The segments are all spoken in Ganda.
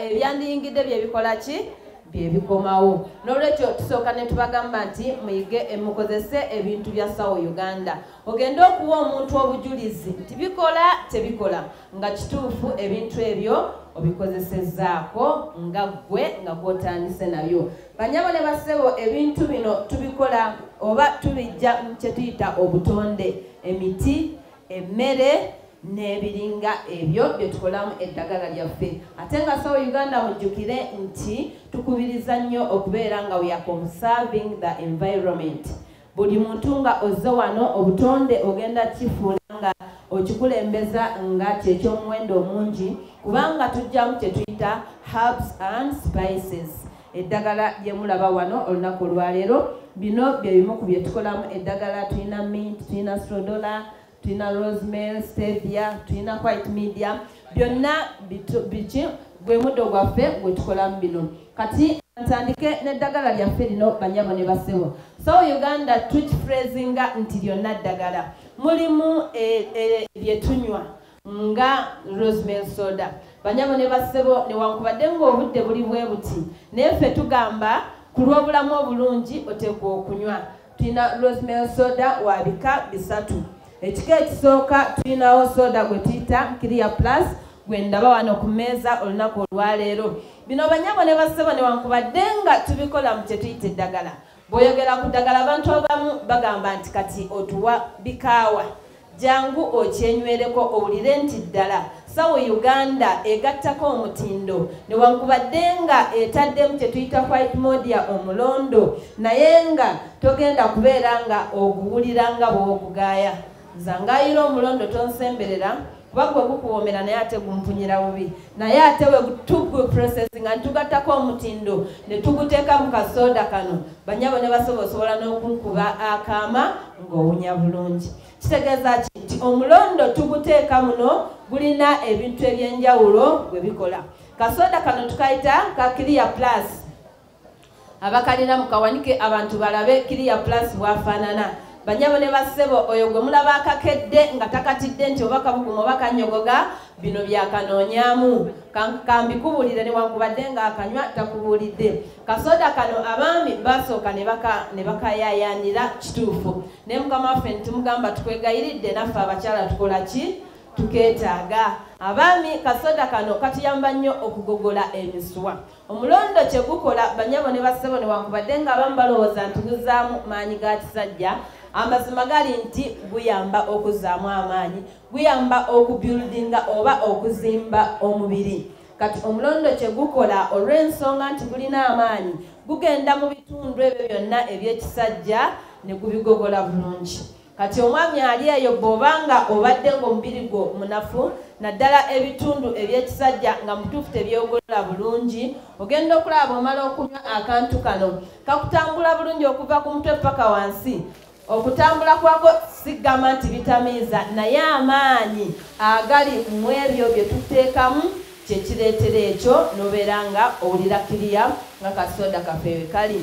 ebyandiyingidde byebikola ki byebikomawo nolwekyo tusooka netubagamba nti muyige emukozese ebintu bya sawo uganda ogende okuwa omuntu obujulizi nti bikola tebikola nga kituufu ebintu ebyo obikozesezzaako nga ggwe nga gwotandise nayo banyabo ne basebo ebintu bino tubikola oba tubijja kyetuyita obutonde emiti emmere n'ebiringa ebyo bye tukolamu eddagala lyaffe ate nga sawa uganda mujjukire nti tukubiriza nnyo okubeera nga weaconserving the environment Buli muntu nga ozze wano obutonde ogenda kifuula nga okikulembeza nga kyekyomuwendo omungi kubanga tujjamu kyetuyita herbs and spices eddagala lyemulaba wano olunaku olwaleero bino byebimu ku byetukolamu eddagala tulina mint tulina strodola tulina rosemel stevia tulina white media byonna biki gwe muddo gwaffe gwetukolamu bino kati ntandike n'eddagala lyaffe lino banyabo ne basebo so uganda tukifrezinga nti lyonna ddagala mulimu eh, eh, lyetunywa e, e, nga rosemel soda banyabo ne bassebo newankubadde ngaobudde buli bwe buti naye ffe tugamba ku lw'obulamu obulungi oteekwa okunywa tulina rosemel soda wa bika bisatu ekika ekisooka tulinawo soda gwe tuyita clear plus gwe ndaba wano ku mmeeza olunaku olwaleero bino banyabo ne bassebo newankubadde nga tubikola mu kyetuyita eddagala bw'oyogera ku ddagala abantu abamu bagamba nti kati otuwa bikaawa Jangu okyenywereko owulire nti ddala sawo Uganda egattako omutindo newankubadde nga etaddemu kyetuyita white modia omulondo naye nga togenda kubeera nga oguwulira nga bwogugaaya zangayira omulondo tonsemberera kuba gwe gukuwoomera naye ate gumpunyira bubi naye ate wetugu processing nga nitugattako omutindo netuguteeka mu kasooda kano banyabo ne basobola osobola n'okunkuba akaama ng'owunya bulungi kitegeeza ki nti omulondo tuguteeka muno gulina ebintu eby'enjawulo bwe bikola kasooda kano tukayita ka kiriya plus abakalina mukawanike abantu balabe kiriya plus bwafaanana banyabo ne bassebo oyo gwe mulaba akakedde nga takatidde nti oba kabuguma oba kanyogoga bino byakanoonyaamu kambikubuulire newankubadde ng'akanywa takubuulidde kasoda kano abaami basooka ne bakayayanira kituufu naye mukama waffe nitumugamba tukwegayiridde naffe abakyala tukola ki tukeetaaga abaami kasoda kano katuyamba nnyo okugogola emiswa omulondo kye gukola banyabo ne bassebo ne wankubadde nga abamu balowooza nti guzaamu maanyi ga kisajja amazima gali nti guyamba okuzaamu amaanyi guyamba okubyuludinga oba okuzimba omubiri Kati omulondo kye gukola olw'ensonga nti gulina amaanyi gugenda mu bitundu ebyo byonna eby'ekisajja ne gubigogola bulungi kati omwami ali eyo bw'oba nga obadde ng'omubiri gwo munafu naddala ebitundu eby'ekisajja nga mutuufu tebyogolola bulungi ogenda okulaba bw'omala okunywa akantu kano kakutambula bulungi okuva ku mutwe paka wansi okutambula kwako sigamba nti bitamiiza naye amaanyi agali mu ebyo bye tuteekamu kye kireetera ekyo n'obeera nga owulira kiriya nga kasooda kaffe we kali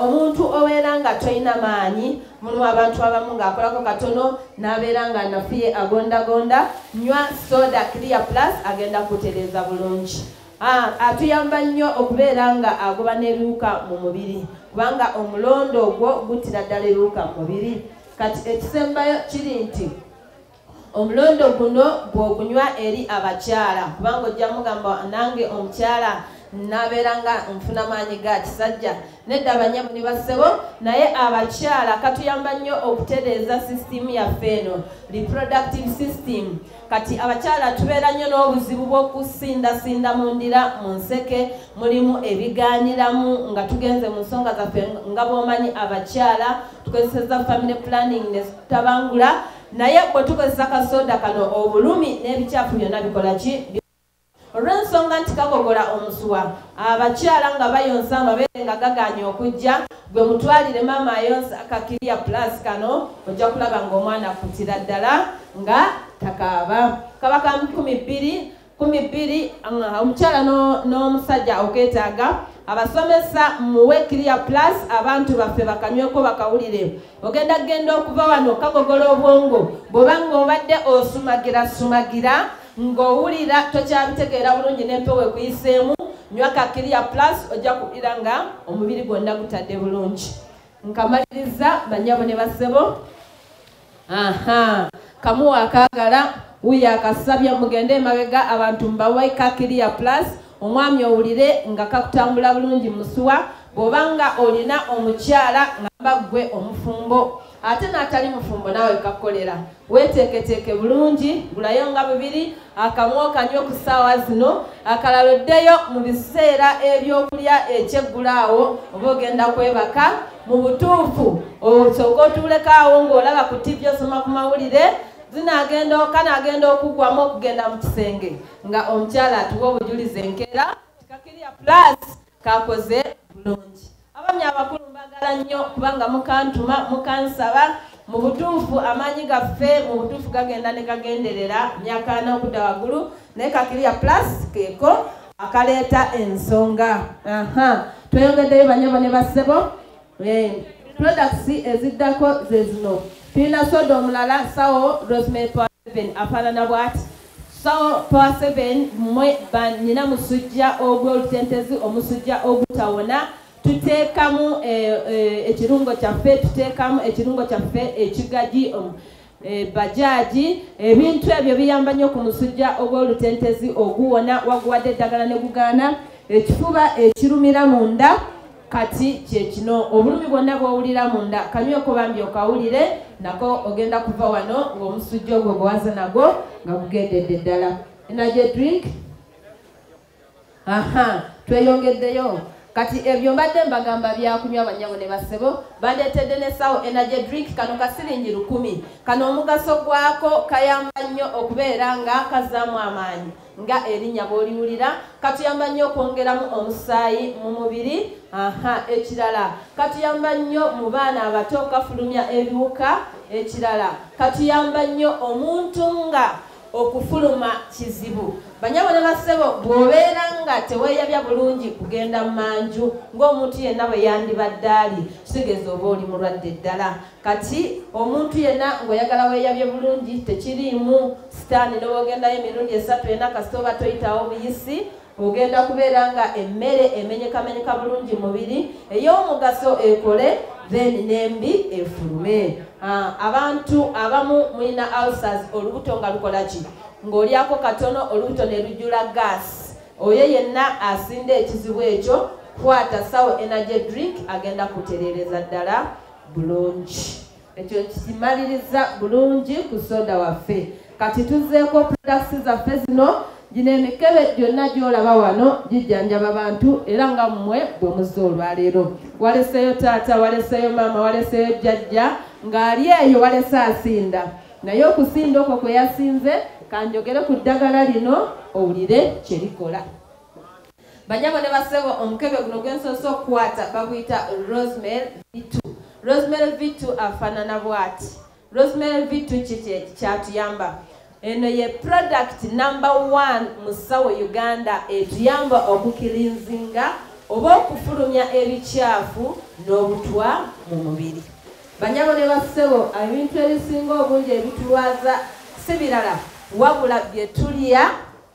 omuntu obeera nga tolina maanyi mulimu abantu abamu ng'akolako katono n'abeera nga nafuye agondagonda nywa sooda kiriya plus agenda kutereeza bulungi A, Atuyamba nnyo okubeera nga agoba n'ebiwuka mu mubiri kubanga omulondo ogwo guttira ddala ebiwuka mu mubiri kati ekisembayo kiri nti omulondo guno bw'ogunywa eri abakyala kubanga ojja mugamba nange omukyala nabeera nga nfuna maanyi ga kisajja nedda banyamu ne bassebo naye abakyala katuyamba nnyo okutereeza sisitimu yaffe eno reproductive system Kati abakyala tubeera nnyo n'obuzibu bw'okusindasinda mu ndira mu nseke mulimu ebigaaniramu nga tugenze mu nsonga zaffe nga bw'omanyi abakyala tukozeseza family planning ne tutabangula naye bwe tukozesa kasooda kano obulumi n'ebikyafu byonna bikola ki Olw'ensonga nti kagogola omusuwa, abakyala nga bayonsa amabeere nga gagaanye okujja, gwe mutwalire maama ayonsa ka Clear Plus kano ojja kulaba ng'omwana akkutira ddala nga takaaba. Kaba ka nkumi bbiri, nkumi bbiri omukyala n'omusajja okeetaaga. abasomesa muwe clear plus abantu baffe bakanyweko bakawulire ogenda kugenda okuva wano kagogola obwongo bwobanga obadde osumagira sumagira ng'owulira tokyabitegeera bulungi n'empewo ekuyiseemu nywa ka kiriya plus ojja kuwulira nga omubiri gwonna gutadde bulungi nkamaliriza banyabo ne basebo aha kamuwa akaagala wuyo akasabye mugende emabega abantu mbawe ka kiriya plus omwami owulire nga kakutambula bulungi musuwa bw'oba nga olina omukyala ngamba ggwe omufumbo ate n'atali mufumbo naawe kakolera weeteeketeeke bulungi gulayo nga bubiri akamu okanywa ku ssaawa zino akalala oddeyo mu biseera ebyokulya ekyeggulaawo oba ogenda kwebaka mu butuufu osooka otuulekaawo ng'olaba ku tivi osoma ku mawulire zinagenda kanagenda okuggwamu okugenda mu kisenge nga omukyala atuwa obujulizi enkeera kikakirya plus kakoze bulungi abami abakulu mbagala nnyo kubanga mukantuma mukansaba mu butuufu amaanyi gaffe mu butuufu gagenda ne gagenderera myaka ana okudda waggulu naye kakiriya plus keeko akaleeta ensonga tweyongeddeyo banyabo ne bassebo Eh, products eziddako ze zino tulina soda omulala sawo rosemary power seven afaanana bwati sawo power seven mwe banyina musujja ogw'olutentezi omusujja ogutawona tuteekamu eh, eh, ekirungo kyaffe tuteekamu ekirungo kyaffe ekigagi ebajaji ebintu ebyo biyamba nnyo ku musujja ogw'olutentezi oguwona waguwadde eddagala ne gugaana ekifuba ekirumira munda kati kyekino obulumi bwonna bwowulira munda kanyweko bambi okawulire nako ogenda kuva wano ng'omusujja ogwo gwewaza nagwo nga gugendedde ddala energy drink aha tweyongeddeyo kati ebyo eh, mbadde mbagamba byakunywa banyabo ne basebo bandeetedde ne sawo energy drink kano kasiringi lukumi kano omugaso gwako kayamba nnyo okubeera nga kazaamu amaanyi nga erinnya bwoliwulira katuyamba nnyo okwongeramu omusaayi mu mubiri aha ekirala katuyamba nnyo mu baana abato kafulumya ebiwuka ekirala katuyamba nnyo omuntu nga okufuluma kizibu banyabo ne basebo bw'obeera nga teweeyabya bulungi kugenda mu manju ng'omuntu yenna bwe yandibadde ali kitegeeza oba oli mulwadde ddala kati omuntu yenna ng'oyagala weeyabye bulungi tekiriimu sitaani n'obwogendayo emirundi esatu ena kasita oba toyitawo buyisi ogenda kubeera nga emmere emenyekamenyeka bulungi mubiri ey'omugaso ekole then nembi efulume ah, abantu abamu mulina ulcers olubuto nga lukola ki ng'olyako katono olubuto ne lujula gas oyo yenna asinda ekizibu ekyo kwata sawo energy drink agenda kutereereza ddala bulungi ekyo kikimaliriza bulungi ku soda waffe kati tuzzeeko products zaffe zino gino emikebe gyonna gyolaba wano gijjanjaba bantu era nga mmwe bwe muzze olwaleero waleseeyo taata waleseeyo maama waleseeyo jjajja ng'ali eyo walese asinda naye okusinda okwo kwe yasinze kanjogere ku ddagala lino owulire kye likola Banyabo ne basebo omukebe guno gwensoose okukwata baguyita Rosemary Vitu. Rosemary Vitu afaanana bwati. Rosemary Vitu kiki kyatuyamba? Eno ye product number one mu ssawo Uganda etuyamba okukilinzinga oba okufulumya ebikyafu n'obutwa mu mubiri. Banyabo ne basebo ebintu ebisinga obungi ebitulwaza si birala wabula bye tulya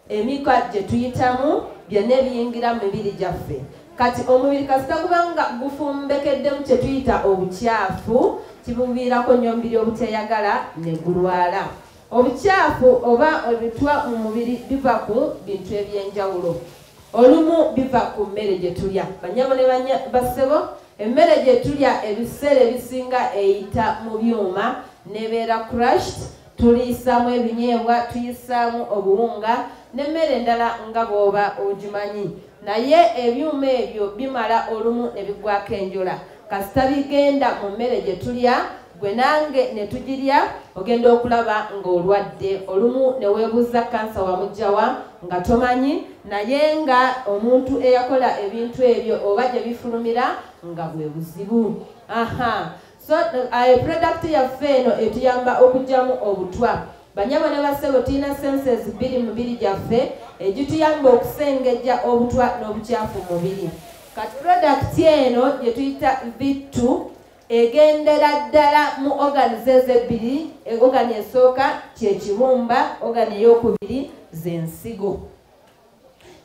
Emikka gye tuyitamu byonna ebiyingira mu mibiri gyaffe kati omubiri kasita gubanga gufumbekeddemu kye tuyita obukyafu kibuviirako nnyo omubiri obuteyagala ne gulwala obukyafu oba ebitwa mu mubiri biva ku bintu eby'enjawulo olumu biva ku mmere gye tulya banyabo ne basebo emmere gye tulya ebiseera ebisinga eyita mu byuma nebeera crushed tuliyisaamu ebinyeebwa tuyisaamu obuwunga n'emmere endala nga bw'oba ogimanyi naye ebyuma ebyo bimala olumu ne bigwako enjola kasita bigenda mu mmere gye tulya gwe nange ne tugirya ogenda okulaba ng'olwadde olumu ne weebuuza kansa wamugjawa nga tomanyi naye nga omuntu eyakola ebintu ebyo oba gye bifulumira nga bwe buzibu aha So ayo product yaffe eno etuyamba okugyamu obutwa banyabo ne basebo tulina senses bbiri mubiri gyaffe egituyamba okusengejja obutwa n'obukyafu mubiri kati product eno gyetuyita vittu egendera ddala mu organis ezo ebbiri organi esooka kyekibumba organi eyokubiri zensigo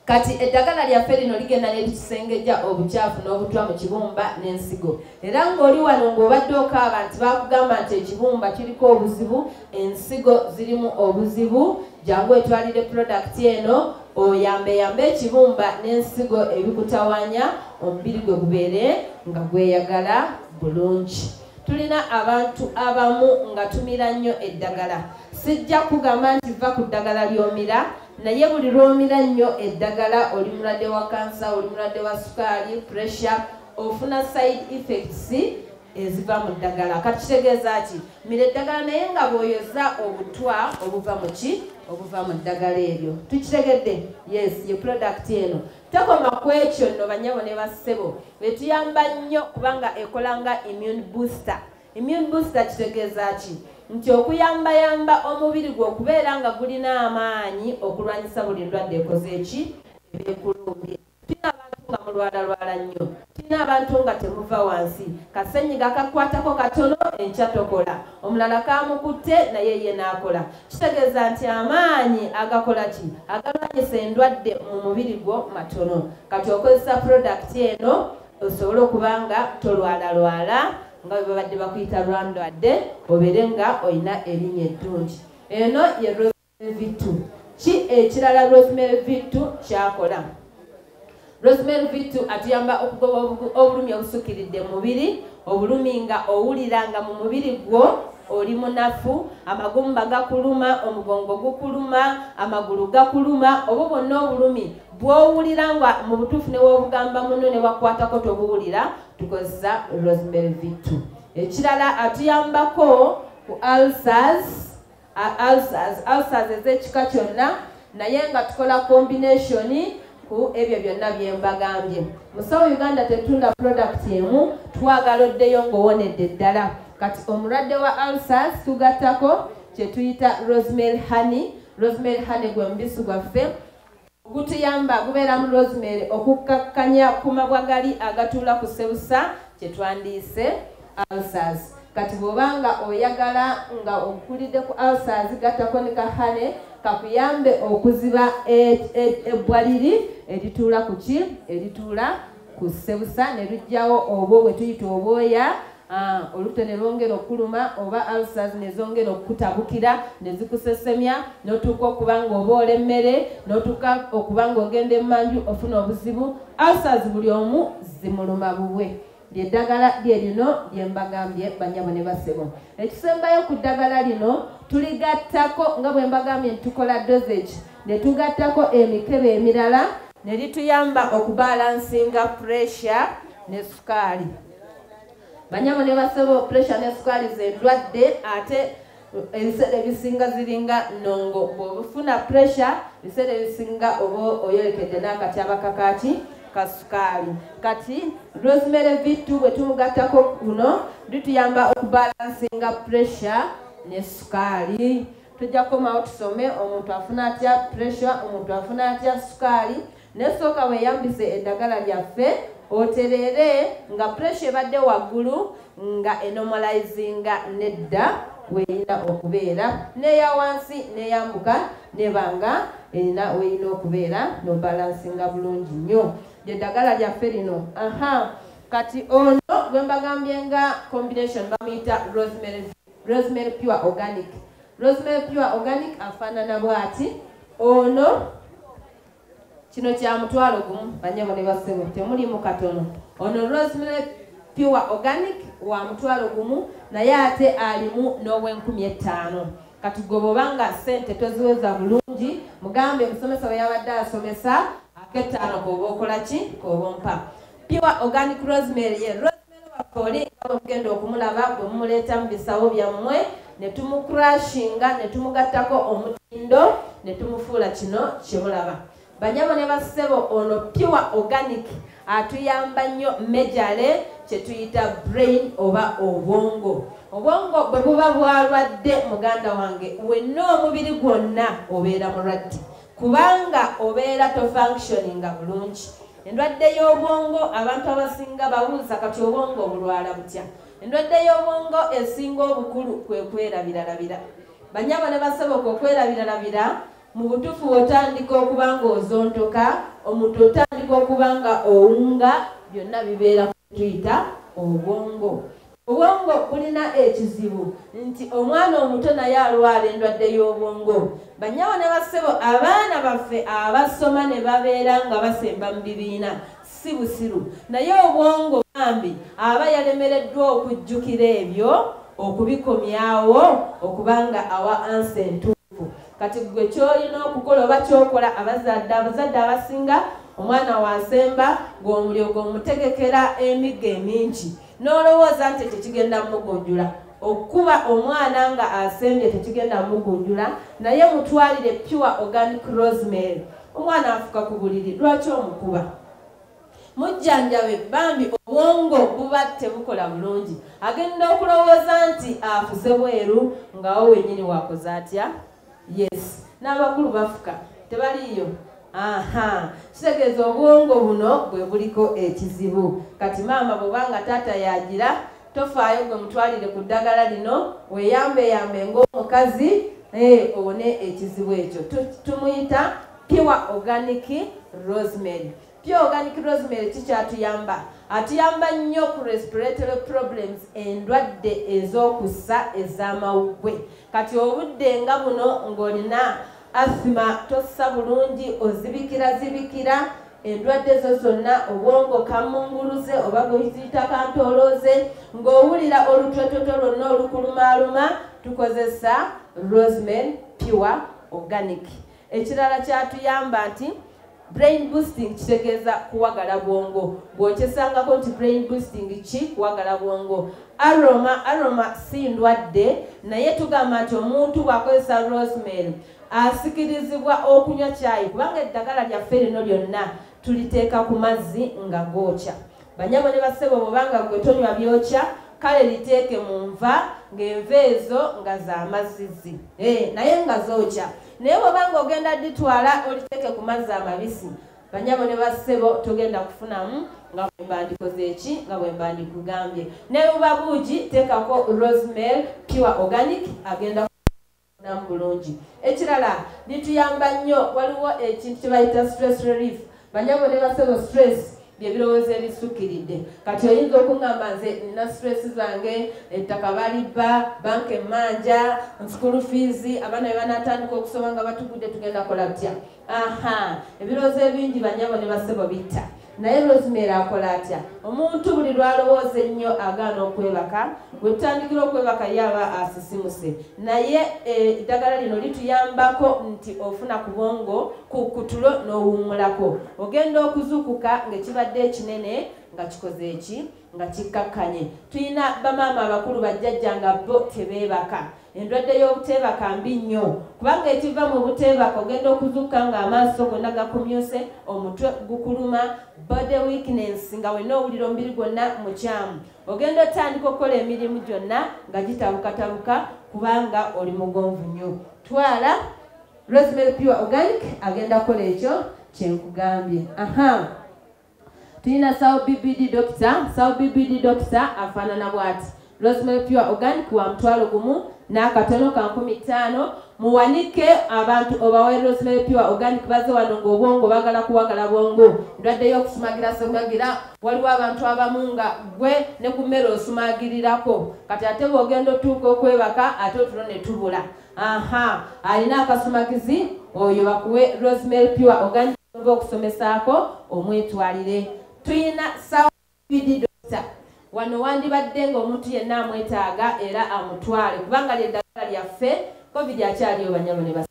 kati eddagala lyaffe lino ligenda neritusengejja obukyafu n'obutwa mu kibumba n'ensigo era ng'oli wano ng'obadde okaaba nti bakugamba nti ekibumba kiriko obuzibu ensigo zirimu obuzibu jangu etwalire pulodakiti eno oyambeyambe ekibumba n'ensigo ebikutawanya omubiri gwe gubeere nga gweyagala bulungi tulina abantu abamu nga tumira nnyo eddagala sijja kugamba nti va ku ddagala ly'omira naye buli lwomira nnyo eddagala oli mulwadde wa kansa oli mulwadde wa sukaali pressure ofuna side effects eziva mu ddagala kati kitegeeza ki mira eddagala naye nga bwoyoza obutwa obuva mu ki obuva mu ddagala eryo tukitegedde yes ye product eno tekoma ku ekyo nno banyabo ne bassebo betuyamba nnyo kubanga ekola nga immune booster Immune booster kitegeeza ki? Nti okuyambayamba omubiri gwo okubeera nga gulina amaanyi okulwanyisa buli ndwadde ekoze eki ebekulumbye. Tulina abantu nga mulwalalwala nnyo, tulina abantu nga temuva wansi, kasenyiga kakwatako katono enkya tokola, omulala kamukutte naye ye n'akola. Kitegeeza nti amaanyi agakola ki agalwanyisa endwadde mu mubiri gwo matono. Kati okozesa pulodakiti eno osobole okuba nga tolwalalwala nga bwe babadde bakuyita lwandwadde obeere nga olina erinnya eddungi eno ye rosemary vittu ki ekirala rosemary vittu kyakola rosemary vittu atuyamba okugoba obulumi obusukkiridde mu mubiri obulumi nga owulira nga mu mubiri gwo oli munafu amagumba gakuluma omugongo gukuluma amagulu gakuluma obo bonna obulumi bwowulira nga mu butuufu newobugamba muno newakwatako tobuwulira tukozesa rosemary vitu ekirala atuyambako ku ulcers ulcers ulcers ezekika kyonna naye nga tukola combination ku ebyo byonna byembagambye musawo uganda tetunda product emu twagala oddeyo ngaowonedde ddala kati omulwadde wa ulcers tugattako kyetuyita rosemary honey rosemary honey gwe mubisi gwaffe Gutuyamba gubeeramu rosemary okukkakkanya ku mabwa gali agatuula ku sebusa kye twandiise ulcers kati bwoba nga oyagala nga okulidde ku alsaz gattako ne kahane kakuyambe okuziba e, e, ebbwa liri erituula ku ki erituula ku sebusa ne lujjawo obwo bwe tuyita obwoya Ah, olubuto ne lwongera okuluma oba ulcers ne zongera okukutabukira ne zikusesemya n'otuuka okuba ng'oboola emmere n'otuuka okuba ng'ogenda emmanju ofuna obuzibu ulcers buli omu zimuluma bubwe lyeddagala lye lino lye mbagambye banyabo ne basebo ekisembayo ku ddagala lino tuligattako nga bwe mbagambye nti tukola dosage ne tugattako emikebe emirala ne lituyamba okubalansinga pressure ne sukaali banyabo ne basebo pressure ne sukali ze ndwadde ate ebiseera ebisinga ziringa nongo bwobufuna pressure ebiseera ebisinga oba oyolekedde n'akatyaba kakaki kasukaali kati rosemary vittu bwe tumugattako kuno lituyamba okubalansinga pressure ne sukaali tujja kukomawo tusome omuntu afuna atya pressure omuntu afuna atya sukaali Naye sooka weeyambise eddagala lyaffe otereere nga puresha ebadde waggulu nga enomalizinga nedda weyina okubeera neya wansi neyambuka nebanga erina weyina okubeera nobalansinga bulungi nnyo lyedagala lyaffe lino aha kati ono gwembagambye nga combination bamuyita rosemary, rosemary pure organic rosemary pure organic afaanana bwati ono kino kya mutwalo gumu banyabo ne basebo temulimu katono ono rosemary pure organic wa mutwalo gumu naye ate alimu n'owenkumi ettaano kati gwe bwobanga sente toziweza bulungi mugambe omusomesa bwe yabadde asomesa akettaano koba okola ki koba ompa pure organic rosemary ye oli nga bwe mugenda okumulaba bwe mumuleeta mu bisawo byammwe ne tumukrashinga ne tumugattako omutindo ne tumufuula kino kye mulaba banyabo ne bassebo ono pure organic atuyamba nnyo mejale kye tuyita brain oba obwongo obwongo bwe buba bwalwadde muganda wange wenna omubiri gwonna obeera mulwadde kubanga obeera tofunctioninga bulungi Endwadde y'obwongo abantu abasinga babuuza kati obwongo obulwala butya? Endwadde y'obwongo esinga obukulu kwe kwerabiralabira. Banyabo ne basoboka okwerabiralabira mu butuufu otandika okuba ng'ozontoka, omuntu otandika okuba nga owunga, byonna bibeera kutuyita obwongo. Obwongo bulina ekizibu nti omwana omuto naye alwala endwadde y'obwongo. Banyawo ne bassebo abaana baffe abasoma ne babeera nga basemba mu bibiina si busiru naye obwongo bambi aba yalemereddwa okujjukira ebyo okubikomyawo okubanga awa ansa entuufu kati gwe kyolina okukola oba kyokola abazadde abazadde abasinga omwana wasemba gweomulyogo omutegekera emigga emingi n'olowooza nti ekyo kigenda mugunjula okukuba omwana nga asembye tekigenda mugunjula naye mutwalire pure organic rosemary omwana afuka ku buliri lwaki omukuba mujjanjabe bambi obwongo buba tebukola bulungi agenda okulowooza nti afuse bweru ngawo wenyini wakoze atya yes n'abakulu bafuka tebaliiyo aha kitegeeza obwongo buno bwe buliko ekizibu kati maama bwoba nga taata yagira tofaayo gwe mutwalire ku ddagala lino weyambeyambe ng'omukazi eh, owone ekizibu ekyo tumuyita pure organic rosemary Pure Organic Rosemary kikyatuyamba atuyamba nnyo ku respiratory problems endwadde ez'okussa ez'amawuggwe kati obudde nga buno ng'olina asima tossa bulungi ozibikira zibikira endwadde zo zonna obwongo kamunguluze oba gwekiziita kantoolooze ng'owulira olutwetoto lwonna olukulumaaluma tukozesa roseman pure organic Ekirala kyatuyamba nti brain boosting kitegeeza kuwagala bwongo bw'okyesangako nti brain boosting ki kuwagala bwongo aroma aroma si ndwadde naye tugamba nti omuntu bw'akozesa rosemary asikirizibwa okunywa kyayi kubanga eddagala lyaffe lino lyonna tuliteeka ku mazzi nga gookya Banyabo ne bassebo bwobanga ggwe tonywa byokya kale liteeke mu nva ng'enva ezo nga za mazzizi eh, naye nga zookya naye bwobanga ogenda ditwala oliteeke ku mazzi amabisi banyabo ne bassebo togenda kufunamu nga bwembandikoze eki nga bwembandikugambye ne buba buugi teekako rosemel pure organic agenda namu bulungi ekirala bituyamba nnyo waliwo ekintu kyebayita stress relief banyabo ne basebo stress byebirowoozo ebisukkiridde kati oyinza okuŋamba nze nina stress zange ettaka balibba banka emmanja nsukulu fiizi abaana be banatandika okusoma nga batugudde tugenda kola butya aha ebirowoozo ebingi banyabo ne basebo bitta naye rosemary akola atya omuntu buli lwalowooza ennyo agaana okwebaka wetutandikira okwebaka ye aba asisimuse naye eh, eddagala lino lituyambako nti ofuna ku bwongo ku kutulo n'owummulako ogenda okuzuukuka ng'ekibadde ekinene nga kikoze eki nga kikkakkanye tulina bamaama abakulu bajjajja nga bo tebeebaka endwadde y'obuteebaka mbi nnyo kubanga ekiva mu buteebaka ogenda okuzukka ng'amaaso gonna gakumyuse omutwe gukuluma body weakness nga wenna owulira omubiri gwonna mukyamu ogenda otandika okukola emirimu gyonna nga gitabukatabuka kubanga oli mugonvu nnyo twala rosemary pure organic agenda kukola ekyo kyenkugambye aha tulina sawo bbd dokita sawo bbd dokita afaanana bwati rosemary pure organic wa mutwalo gumu n'akatono ka nkumi ttaano muwanike abantu obawe rosemary pure organic baze wano ng'obwongo bagala kuwagala bwongo ndwadde y'okusumagira sumagira waliwo abantu abamu nga gwe ne ku mmere osumagirirako kati ate bw'ogenda otuuka okwebaka ate otulo ne tubula aha alina akasumagizi oyo bakuwe rosemary pure organic oba okusomesaako omwetwalire tuyina sawbd dokita wano wandibadde ng'omuntu yenna amwetaaga era amutwale kubanga lyeddagala lyaffe covid akyaliyo banyabo ne basa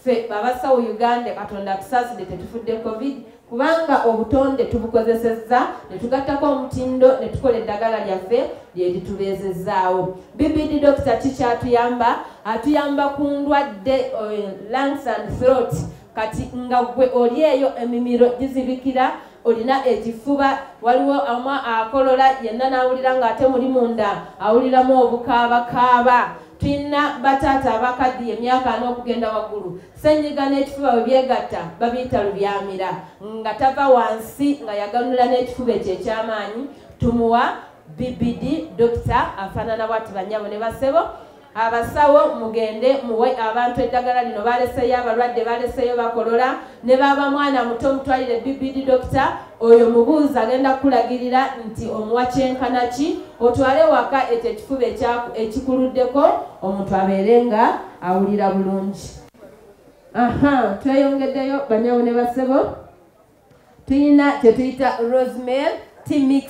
ffe babasawo uganda katonda tusaside tetufudde covid kubanga obutonde tubukozesezza ne tugattako omutindo ne tukola eddagala lyaffe lye litubeezezzaawo bbd dokita kiki atuyamba atuyamba ku ndwadde eh, lungs and throat kati nga gwe oli eyo emimiro gizibikira olina ekifuba waliwo ama akolola yenna n'awulira ng'ate muli munda awuliramu obukaabakaaba Tulina bataata abakaddiye emyaka ana okugenda waggulu, ssennyiga n'ekifuba bwe byegatta babiyita lubyamira, nga tava wansi nga yaganula n'ekifuba ekyo eky'amaanyi, tumuwa BBD dokita afaanana bwati bannyabo ne basebo abasawo mugende muwe abantu eddagala lino baleseyo abalwadde baleseyo bakolola ne baaba mwana muto mutwalire bbd dokita oyo mubuuzi agenda kukulagirira nti omuwa kyenkana ki otwale waka ekyo ekifuba ekikuluddeko omuntu abeere nga awulira bulungi aha tweyongeddeyo banyawo ne basebo tulina kyetuyita rosemel tmix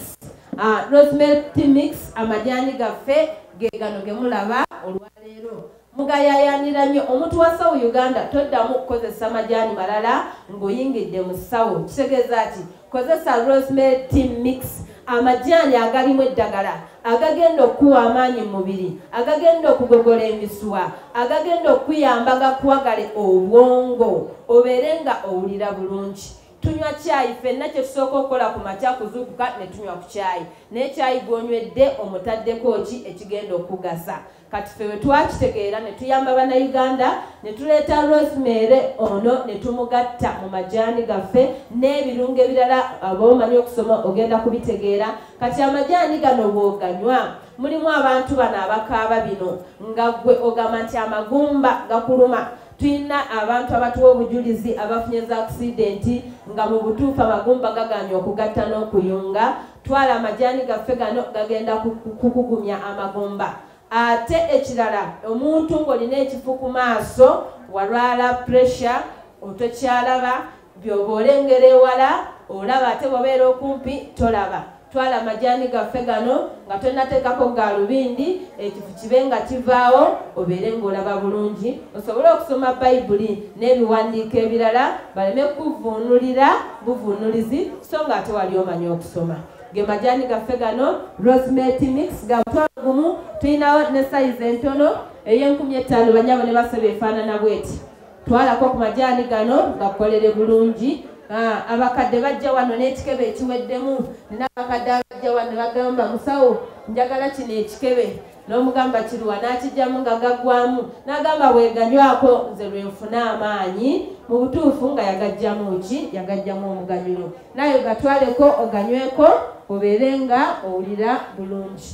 ah, rosemel tmix amajaani gaffe gegano gemulaba olwaleero mugayayanira nnyo omuntu wa sawu uganda toddamu okukozesa majaani malala ng'oyingidde mu sawu kitegeeza ti kozesa rosemary team mix amajaani agalimu eddagala agagenda okukuwa amaanyi mu mubiri agagenda okugogola emisuwa agagenda okukuyamba gakuwagale obwongo obeere nga owulira bulungi tunywa kyayi fenna kyetusooka okukola ku makya kuzuukuka ne tunywa ku kyayi naye kyayi gwonywedde omutaddeko ki ekigenda okugasa kati ffe bwe twakitegeera ne tuyamba bannayuganda ne tuleeta rosemary ono ne tumugatta mu majaani gaffe n'ebirungo ebirala aba omanyi okusoma ogenda kubitegeera kati amajaani gano bw'oganywa mulimu abantu bano abakaaba bino nga ggwe ogamba nti amagumba gakuluma tulina abantu abatuwa obujulizi abafunye za akisidenti nga mu butuufu amagumba gaganya okugatta n'okuyunga Twala amajaani gaffe gano gagenda kukugumya amagumba ate ekirala omuntu ng'olina ekifu ku maaso walwala puresha otokyalaba byoba olengera ewala olaba ate bwabeera okumpi tolaba twala amajaani gaffe gano nga tonateekako gaalubindi ekifu kibe nga kivaawo obeere ng'olaba bulungi osobole okusoma bayibuli n'ebiwandiiko ebirala baleme kukuvuunulira buvunnulizi so nga ate wali omanyi okusoma ge majaani gaffe gano rosemate mix ga mutwalo gumu tulinawo ne sayizi entono ey'enkumi ettaano banyabo ne basobe efaanana bweti twalako ku majaani gano gakolere bulungi ah, abakadde bajja wano n'ekikebe ekiweddemu nina abakadde abajja wano bagamba musawo njagala kino ekikebe n'omugamba kiruwa n'akijjamu nga gaggwamu n'agamba bweganywako nze lwe nfuna amaanyi mu butuufu nga yagajjamu ki yagajjamu omuganyulo naye ogatwaleko oganyweko obeere nga owulira bulungi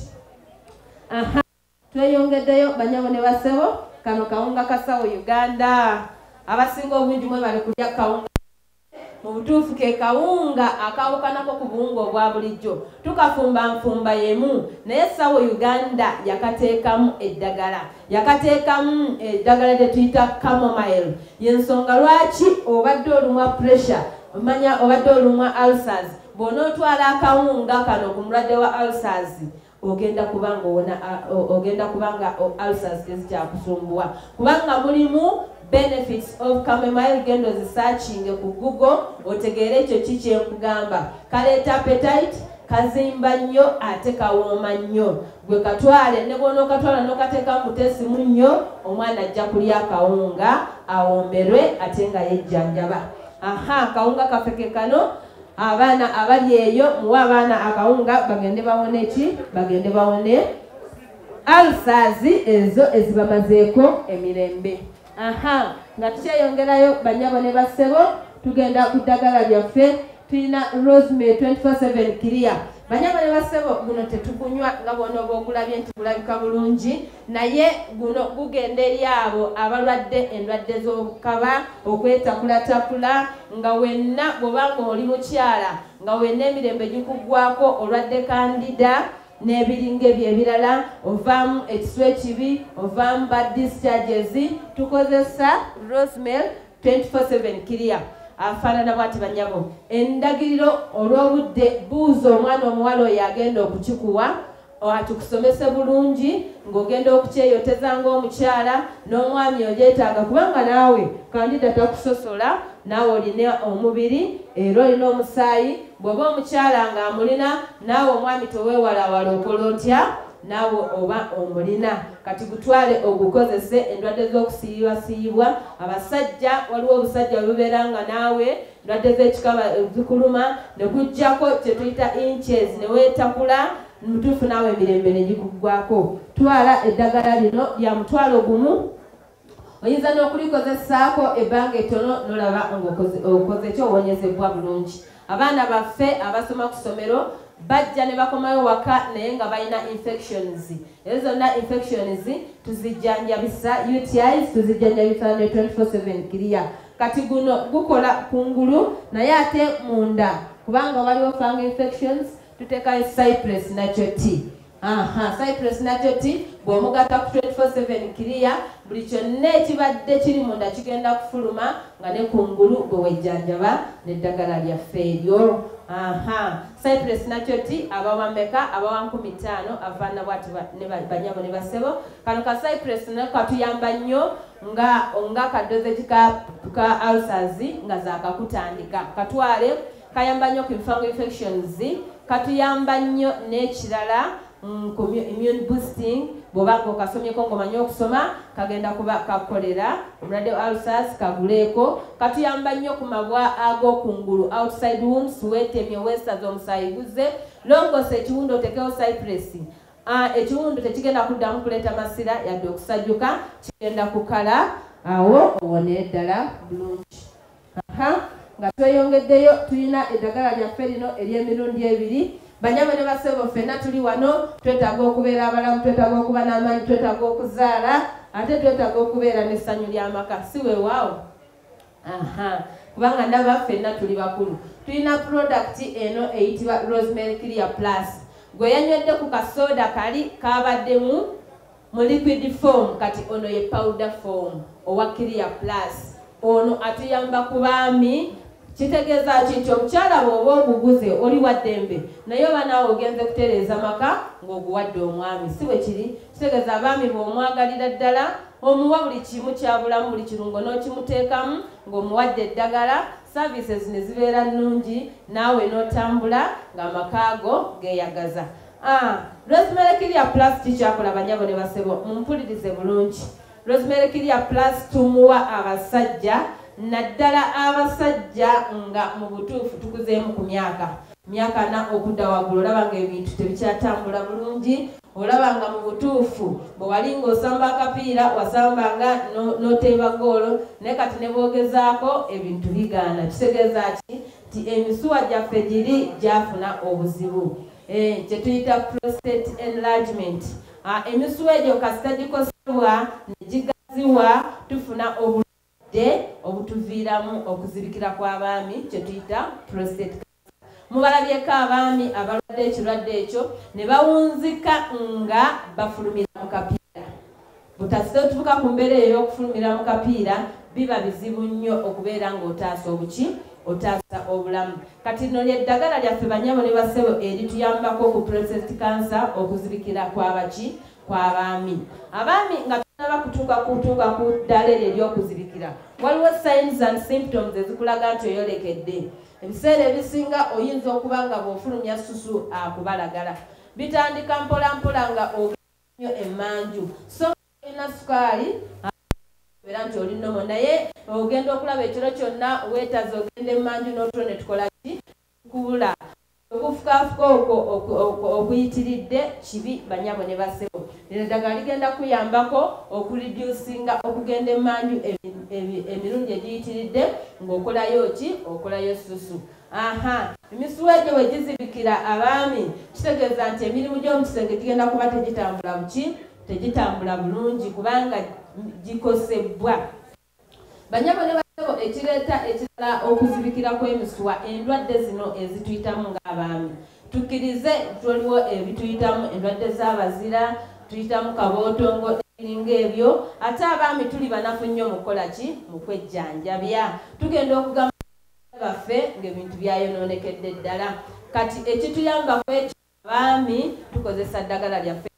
aha tweyongeddeyo banyabo ne basebo kano kawunga kasawo uganda abasinga obungi mwe bali kulya kawunga mu butuufu ke kawunga akawukanako ku buwunga obwa bulijjo tukafumba nfumba yemu naye sawo uganda yakateekamu eddagala yakateekamu eddagala lyetuyita camomile yensonga lwaki obadde olumwa pressure omanya obadde olumwa ulcers bw'onootwala akawunga kano ku mulwadde wa ulcers ogenda kubanga owona ogenda kubanga ulcers tezikyakusumbuwa kubanga mulimu benefits of camomile genda ozisearchinge ku google otegeere ekyo ki kyenkugamba kaleeta appetite kazimba nnyo ate kawooma nnyo gwe katwale ne bwonookatwala nokateeka mutesimu nnyo omwana ajja kulya akawunga awomberwe ate nga yejjanjaba aha akawunga kafeke kano abaana abali eyo muwe abaana akawunga bagende bawone ki bagende bawone alsaazi ezo ezibamazeeko emirembe aha nga tukyeyongerayo banyabo ne bassebo tugenda ku ddagala lyaffe tulina rosme 247 kiria banyabo ne bassebo guno tetugunywa nga bwona oba ogulabye nti gulabika bulungi naye guno gugenda eri abo abalwadde endwadde z'obukaba okwetakulatakula nga wenna bwoba nga oli mukyala nga wenna emirembe gikugwako olwadde kandida n'ebiringa ebyo ebirala ovaamu ekisu ekibi ovaamu ba discharges tukozesa rosmel 24 kiria afaanana bwati banyabo endagiriro olw'obudde buuza omwana omuwala oyo agenda okukikuwa Watu kusomese bulungi ng'ogenda okukyeyoteza ng'omukyala n'omwami ogyetaaga kubanga naawe kandida takusosola naawe olina omubiri era olina omusaayi bw'oba omukyala ng'amulina naawe omwami teweewalawala okola otya naawe oba omulina kati gutwale ogukozese endwadde z'okusiyibwasiyibwa abasajja waliwo obusajja bubeera nga naawe ndwadde z'ekikaba zikuluma ne kujjako kye tuyita inches ne weetakula mutuufu naawe emirembe ne gikuggwako twala eddagala lino lya mutwalo gumu oyinza n'okulikozesaako ebbanga ettono nolaba ngaokoze kyo owonyezebbwa bulungi abaana baffe abasoma ku ssomero bajja ne bakomayo waka naye nga balina infections ezo zonna infections tuzijjanjabisa utis tuzijjanjabisa ne 24 7 kiriya kati guno gukola kungulu naye ate munda kubanga waliwo fang infections tutekayo cypress nakyo ti aha cypress nakyo ti bwomugata ku 247 kiriya buli kyonna ekibadde kiri munda kigenda kufuluma nga ne kungulu gwe wejjanjaba neddagala lyaffe eryo aha cypress nakyo ti abawameka abawa nkumi taano avaana bwati ne banyabo ne basebo kano ka cypress nakatuyamba nnyo nga nga kadozeti ka ka ulcers nga zakakutandika katwale kayamba nnyo ku fungal infections katuyamba nnyo n'ekirala mm, ku immune boosting bwoba nga okasomyeko ngaomanyi okusoma kagenda kuba kakolera omulwadde wa ulcers kaguleeko katuyamba nnyo ku mabwa ag'okungulu outside wounds weetemye weesaza omusaayi guzze longoosa ekiwundu otekewo cypress A, Ekiwundu tekigenda kuddamu kuleeta masira yadde okusajjuka, kigenda kukala awo owone ddala bulungi. Aha, nga tweyongeddeyo tulina eddagala lyaffe lino ery'emirundi ebiri. Banyabo ne basebo ffenna tuli wano, twetaaga okubeera abalamu, twetaaga okuba n'amaanyi, twetaaga okuzaala ate twetaaga okubeera n'essanyu ly'amaka, si weewaawo? aha kubanga ndaba ffenna tuli bakulu tulina product eno eyitibwa rosemary clear plus gwe yanywedde ku kasooda kali kabaddemu mu liquid form kati ono ye powder form owa clear plus ono atuyamba ku baami kitegeeza ki nti omukyala bwoba oguguze oli waddembe naye oba naawe ogenze kutereeza maka ng'oguwadde omwami si bwe kiri kitegeeza abaami bw'omwagalira ddala omuwa buli kimu kyabulamu buli kirungo n'okimuteekamu ng'omuwadde eddagala services ne zibeera nnungi naawe n'otambula ng'amaka ago geeyagaza ah, rosemary kiria plus kikyakola banyabo ne basebo mumpulirize bulungi rosemary kiria plus tumuwa abasajja naddala abasajja nga mu butuufu tukuzeemu ku myaka myaka na okudda waggulu olaba ng'ebintu tebikyatambula bulungi olaba nga mu butuufu bwe wali ng'osamba akapiira wasambanga n'oteeba goolo naye kati ne bwogezaako ebintu bigaana kitegeeza ki nti emisuwa gyaffe giri gyafuna obuzibu eh, kye tuyita prostate enlargement ah, emisuwa egyo kasita gikosebwa ne gigaziwa tufuna obulumi de obutuviiramu okuzibikira kw'abaami kye tuyita prostate mubalabyeko abaami abalwadde ekirwadde ekyo ne bawunzika nga bafulumira mu kapiira butasite otuvuka ku mbeera eyo y'okufulumira mu kapiira biba bizibu nnyo okubeera ng'otaasa obuki otaasa obulamu kati lino lyeddagala lyaffe banyabo ne basebo erituyambako ku prostate cancer okuzibikira kwabaki kw'abaami abaami nga tunaba kutuuka kutuuka ku ddala eryo ery'okuzibikira waliwo signs and symptoms ezikulaga nti oyolekedde ebiseera ebisinga oyinza okuba nga bw'ofulumya susu akubalagala bitandika mpolampola nga ogenyo emanju so olina sukaali era nti oli nomo naye ogenda okulaba ekiro kyonna weetaza ogenda emanju n'otulo ne tukolaki Kubula. Okufukaafuka okwo okuyitiridde kibi banyabo ne bassebo. Lino eddagala ligenda kukuyambako okulidyusinga okugenda emmanju emirundi egiyitiridde ng'okolayo ki? Okolayo ssusu. Aha, emisuwa egyo bwe gizibikira abaami kitegeeza nti emirimu gy'omu kisenge gigenda kuba tegitambula buki? Tegitambula bulungi kubanga gikosebbwa. Banyabo ne basebo ekireeta ekirala okuzibikira kw'emisuwa endwadde zino ezituyitamu ng'abaami. Tukkirize nti waliwo ebituyitamu endwadde z'abazira, tuyitamu kabootongo n'ebiringa ebyo. Ate abaami tuli banafu nnyo mu kukola ki? Mu kwejjanjabya. Tugenda okugamba baffe ng'ebintu byayonoonekedde ddala. Kati ekituyamba kw'ekyo Abaami tukozesa ddagala lyaffe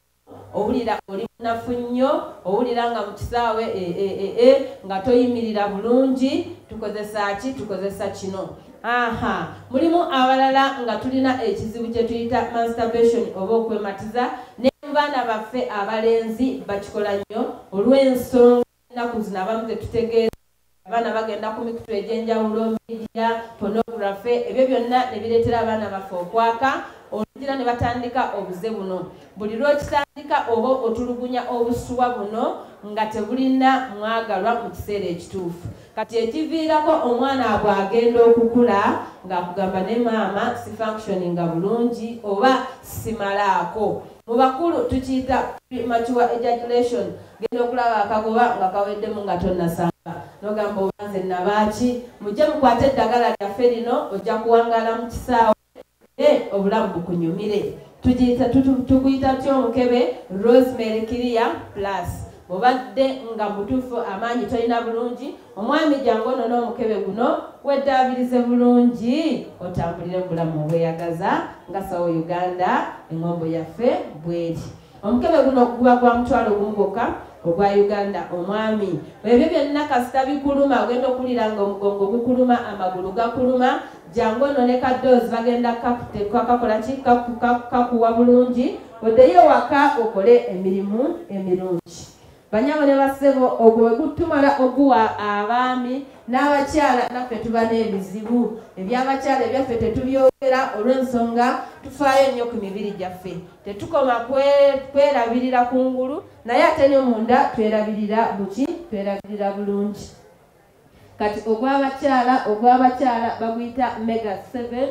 owulira oli munafu nnyo owulira nga mu kisaawe e, e, e, nga toyimirira bulungi tukozesa ki tukozesa kino aha mulimu abalala nga tulina ekizibu kye tuyita masturbation oba okwematiza ne baana baffe abalenzi bakikola nnyo olw'ensonga ennaku zino abamu tetutegeera abaana bagenda ku mikutu egy'enjawulo midia pornography ebyo byonna ne bireetera abaana baffe okwaka olugira ne batandika obuze buno buli lw'okitandika oba otulugunya obusuwa buno nga tebulina mwagalwa mu kiseera ekituufu kati ekiviirako omwana abwe agenda okukula ng'akugamba ne maama si functioninga bulungi oba simalaako mu bakulu tukiyita premature ejaculation genda okulaba akagoba nga kaweddemu nga tonasamba nogamba oba nze nabaaki mujje mukwate eddagala lyaffe lino ojja kuwangala mu kisaawe e obulamu bukunyumire tukuyita tya omukebe rosemary kiria plus obadde nga mutuufu amaanyi tolina bulungi Omwami jangu onone omukebe guno weddaabirize bulungi otambulire mu bulamu obweyagaza nga sawo Uganda engombo yaffe bweri. Omukebe guno guba gwa mutwalo gumu gwokka ogwa Uganda omwami. Ebyo byonna kasita bikuluma ogenda okuwulira nga omugongo gukuluma, amagulu gakuluma, jangu onone ka doozi bagenda kakukakola ki kakuwa bulungi oddeyo waka okole emirimu emirungi. Banyabo ne bassebo ogwo bwe gutumala oguwa abaami n'abakyala naffe tuba n'ebizibu eby'abakyala ebyaffe tetubyogera olw'ensonga tufaayo nnyo ku mibiri gyaffe tetukoma kwerabirira ku ngulu naye ate ne munda twerabirira buki twerabirira bulungi kati ogw'abakyala ogw'abakyala baguyita mega 7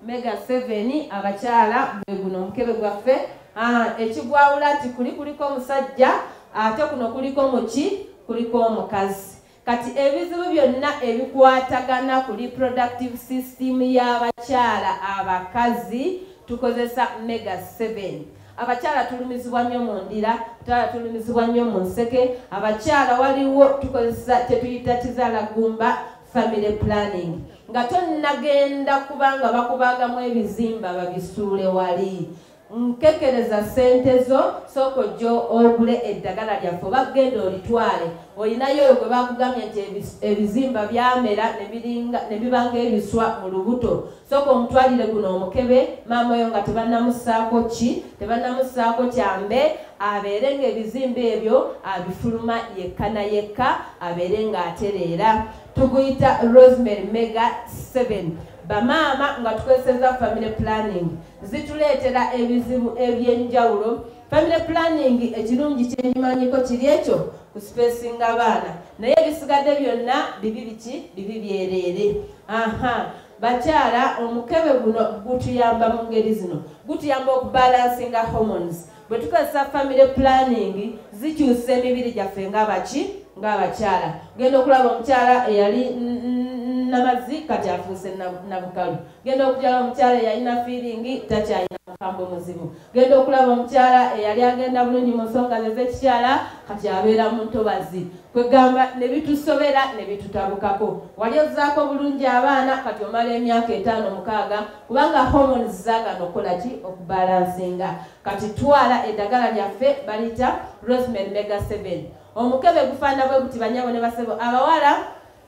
mega 7 abakyala gwe guno omukebe gwaffe ah, ekigwawula nti kuli kuliko omusajja ate kuno kuliko muki kuliko omukazi kati ebizibu byonna ebikwatagana ku reproductive system y'abakyala abakazi tukozesa mega 7 abakyala tulumizibwa nnyo mu ndira abakyala tulumizibwa nnyo mu nseke abakyala waliwo tukozesa kyetuyita kizaala gumba family planning nga tonnagenda kubanga bakubaagamu ebizimba babisuule wali nkekereza sente zo sooka ojja ogule eddagala lyaffe oba genda olitwale olinayo oyo gwe bakugambye nti ebizimba byamera ne bibanga ebiswa mu lubuto soka omutwalire guno omukebe maama oyo nga tebanamusaako ki tebanamusaako kyambe abeere nga ebizimba ebyo abifuluma yekka na yekka abeere nga atereera tuguyita rosemary mega 7 bamaama nga tukozeseza family planning zituleetera ebizibu ebyenjawulo family planning ekirungi kyenyimanyiko kiri ekyo ku spacinga abaana naye ebisigadde byonna bibi biki bibi byereere aha Bakyala, omukebe guno gutuyamba mu ngeri zino. Gutuyamba okubalansinga hormones. Bwe tukozesa famire pulaningi, zikyusa emibiri gyaffe ng'abaki ng'abakyala. Genda okulaba omukyala eyali namazi kati afuuse nabukalu. Genda okukyala omukyala eyalina fiiringi takyalina mukambwe muzibu. genda okulaba omukyala eyali agenda bulungi mu nsonga ze zekikyala kati abeera mu ntobazi kwegamba ne bitusobera ne bitutabukako wali ozaako bulungi abaana kati omala emyaka etaano mukaaga kubanga hormones zagana okukola ki okubalansinga kati twala eddagala lyaffe baliyita rosemary mega 7 omukebe gufaana bwe guti banyabo ne basebo abawala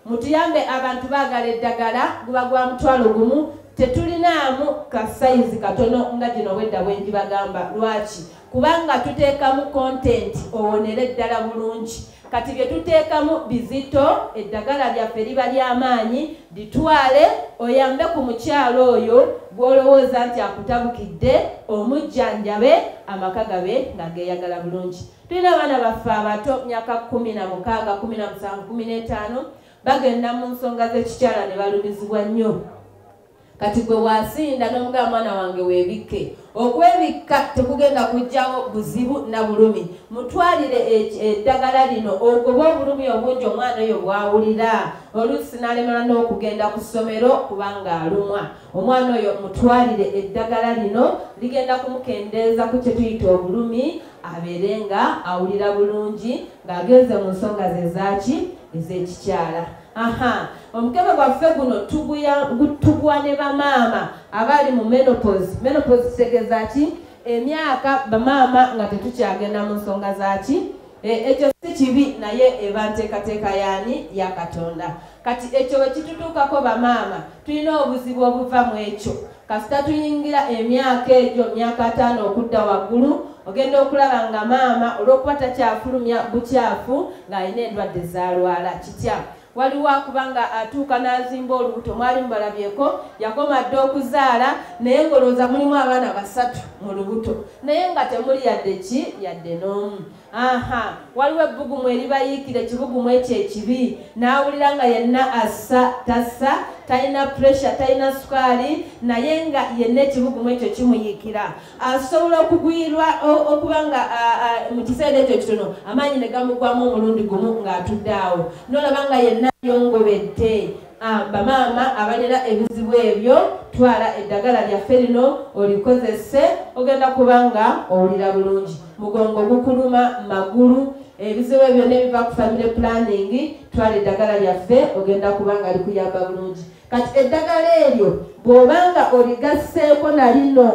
Mutuyambe abantu bagala eddagala guba gwa mutwalo gumu tetulinaamu ka sayizi katono nga gino wedda bwengibagamba lwaki kubanga tuteekamu kontenti owonera eddala bulungi kati bye tuteekamu bizito eddagala lyaffe liba ly'amaanyi litwale oyambe ku mukyalo oyo gw'olowooza nti akutabukidde omujjanjabe amaka gabe nga geeyagala bulungi Tulina abaana baffe abato myaka kumi na mukaaga kumi na musanvu kumi n'etaano bagenda mu nsonga z'ekikyala ne balumizibwa nnyo kati gwe wasinda n'omugaba mwana wange weebikke okwebikka tekugenda kujjawo buzibu na bulumi mutwalire eddagala lino ogoba obulumi obungi omwana oyo bwawulira oluusi n'alemala n'okugenda ku ssomero kubanga alumwa omwana oyo mutwalire eddagala lino ligenda kumukendeeza ku kye tuyita obulumi abeere nga awulira bulungi ng'agenze mu nsonga ze zaaki ez'ekikyala aha omukebe gwaffe guno tugwa ne bamaama abaali mu menopos menopos kitegeeza ki emyaka bamaama nga tetukyagenda mu nsonga zaaki e, ekyo si kibi naye eba nteekateeka yaani ya katonda kati ekyo bwe kitutuukako bamaama tulina obuzibu obuva mu ekyo kasita tuyingira emyaka egyo myaka ataano okudda waggulu ogenda okulaba nga maama olw'okuba takyafulumya bukyafu ng'alina endwadde zaalwala kitya waliwo akuba nga atuuka n'azimba olubuto mwali mubalabyeko yakoma dde okuzaala naye ng'olowooza mulimu abaana basatu mu lubuto naye nga temuli yadde ki yadde n'omu aha waliwo ebbugumu eribayiikira ekibugumu ekyo ekibi n'awulira nga yenna assa tassa talina puresha talina sukaali naye nga yenna ekibugumu ekyo kimuyiikira asobola okugwirwa okuba nga mu kiseera ekyo kitono amaanyi ne gamugwamu omulundi gumu ng'atudde awo n'olaba nga yenna yongobedde Ah, bamaama abalina ebizibu ebyo twala eddagala lyaffe lino olikozese ogenda kuba nga owulira bulungi mugongo gukuluma magulu ebizibu ebyo nebiva ku family planning twala eddagala lyaffe ogenda kuba nga likuyamba bulungi kati eddagala eryo bwoba nga oligasseeko na lino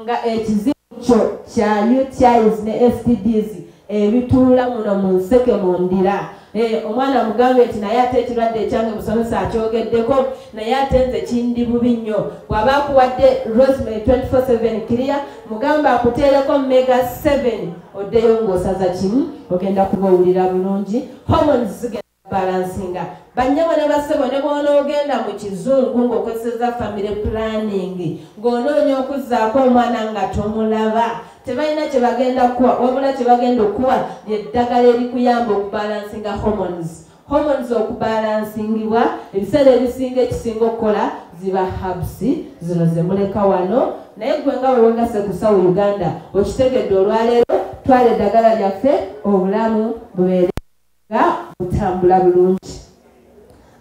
nga ekizibu kyo kya utis ne stds ebituula muno mu nseke mu ndira Eh, omwana mugambe nti naye ate ekirwadde ekyange musomesa akyogeddeko naye ate nze kindi bubi nnyo bw'aba akuwadde rosemary 247 clear mugamba akuteereko mega 7 oddeyo ng'osaza kimu ogenda kuba owulira bulungi hormones zigenda balansinga banyabo ne basebo ne bwonoogenda mu kizungu ng'okozeseza family planning ng'onoonya okuzzaako omwana nga tomulaba tebalina kye bagenda kuwa wabula kye bagenda okuwa lyeddagala erikuyamba okubalansinga hormones hormones okubalansingibwa ebiseera ebisinga ekisinga okukola ziba habs zino zemuleka wano naye gwe nga wewegase kusawo uganda okitegedde olwaleero twala eddagala lyaffe obulamu bubeere nga butambula bulungi